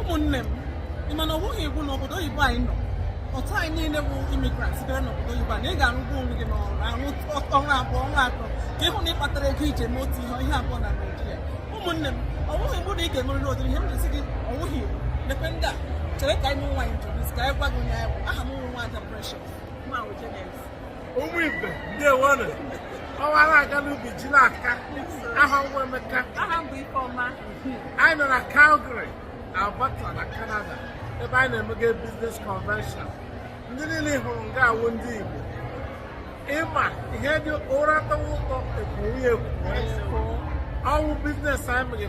ụmụnne m ị ma na ọ wụghị iwu na obodo oyibo anyị nọ otu anyị niile bụ immigrant sitere n'obodo oyibo na ị ga-arụgbu onwe gị n'ọrụ arụ ọrụ abụọ ọrụ atọ ka ị hụ na ị kpatara ego i ji eme otu ihe ihe abụọ na naijiria ụmụnne m ọ wụghị iwu na ị ga-emerịrị ụdịrị ihe m na-esi gị ọ wụghị iwu mekwe ndị a chere ka anyị nwe nwaanyị jụrụ ka anyị gwa gị onye anyị bụ aha m wụ nwaada precious nwa ahụ jenes ụmụ ibe ndewonu ọwara aga n'ubi ji n'aka aha m wụ emeka aha m bụ ifeọma anyị nọ na calgary alberta na canada ebe anyị na-emega business convention ndị niile ị hụrụ nga a wụ ndị igbo ị ma ihe dị ụra tọwa ụtọ e kwowe ya ekwowe ọ wụ business anyị meghe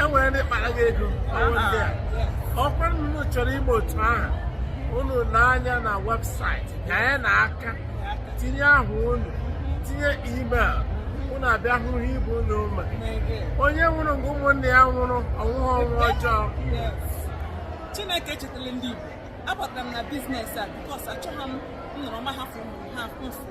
e nwere ndị kpara gị ego ọ kwa unu chọrọ ime otu ahụ unu lee anya na website ka ya na aka tinye aha unu tinye email unu abịa hụrụ ibe unu ma onye nwụrụ nga ụmụnne ya nwụrụ anwụghị ọnwụ ọjọọ chineke echetala ndị igbo abatara m na business a because achọghị m nọrọ ma hafụ ụmụ ha mfụ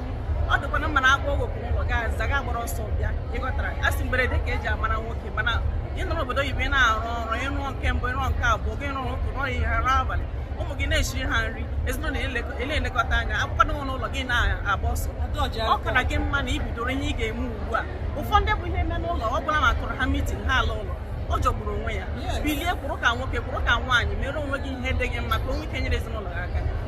ọ dịkwanụ mma na a kpọọ gị oku n'ụlọ gị aza gị agbara ọsọ bịa ị ghọtara a sị mberede ka e ji amara nwoke mana ị nọ n'obodo oyibo ị na-arụ ọrụ ị rụọ nke mbụ ị rụọ nke abụọ gị rụrụ ụtụtụ rụọ ehihie rụọ abalị ụmụ gị na-eshiri ha nri ezinụlọ ele elekọta anya akwụkwado nwe n'ụlọ gị na-agba ọsọ ọ kara gị mma na i bidoro ihe ị ga-eme ugbu a ụfọdụ bụ ihe mee n'ụlọ ọ bụla ma tụrụ ha mitin ha ala ụlọ ọ jọgburu onwe ya bilie kwụrụ ka nwoke kwụrụ ka nwaanyị mere onwe gị ihe dị gị mma ka i nwee ike nyere ezinụlọ gị aka